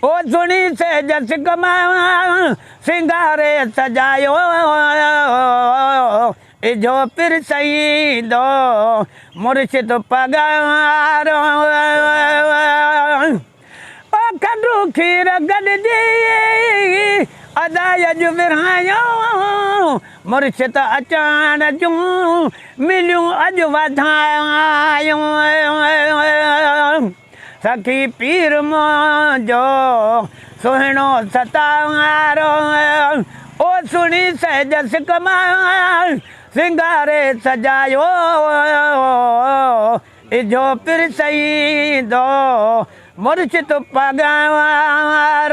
او سھڻي سيج سڪ مان، سينگاري سجايو اجھو پير سئيندو مرشد پگھارو او کنڊو کير گڏجي ادا اڄ ورھايو مرشد اچڻ جون مليون اڄ وڌايو سخي پير منهنجو سهڻو ستار او سڻي سهجس ڪمال سينگاري سجايو اجهو پير سئين دو مرشد پگهار.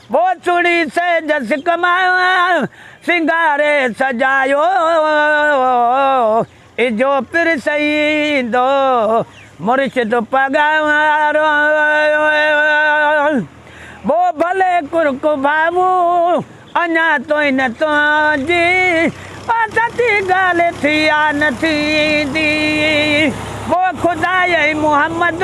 ٻوسڙي سيج سڪ مان سينگاري سجايو، اجهو پير سيد مرشد پڳارو. ٻو ڀلي ڪرڪ ڀاڱون اڃا توهين تنهنجي، او سچي ڳالهه ٿي آ نه ٿيندي. ٻو خدائي محمد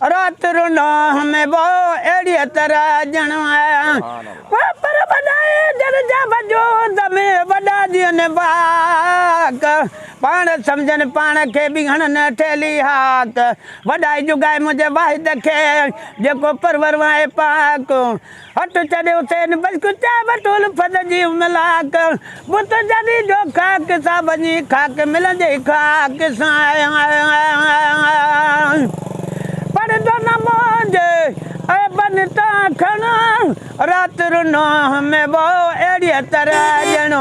رات رو ڏانهن ۾ وو اهڙيء طرح ڄڻ ڪو پر وڏائي در جا وجود ۾ وڏا ڏينهن واڪ پاڻ سمجهن پاڻ کي به هڻن ٺيلهي هاڪ وڏائي جڳائي منهنجي واحد کي جيڪو پرور وانء پاڪ هٺ چڙهي حسين بخش چيو وٺ الفت جي ان لاک، بت جڏهن جو خاڪ سان وڃي خاڪ ملن جي خاڪ سان پڙ جو نه منهنجي عيبن تان کڻ رات رنو همه وو اهڙيء طرح ڄڻ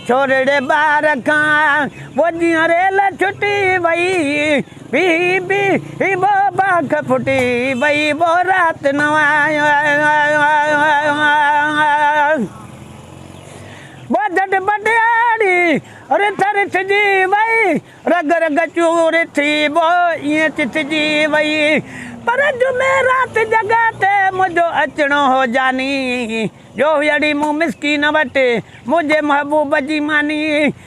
ڇورڙي ٻار کان وو جيئن ريل ڇٽي وئي بي بي هي بو باک ڦٽي وئي بو رات نه آياس بو جٽ بٽياڙي رٿ رٿجي وئي رڳ رڳ چور ٿي بو ائين چٿجي وئي پر جمعي رات جڳهه تي منهنجو اچڻو هو جاني جو هئي اڙي مون مسڪين وٽ منهنجي محبوب جي ماني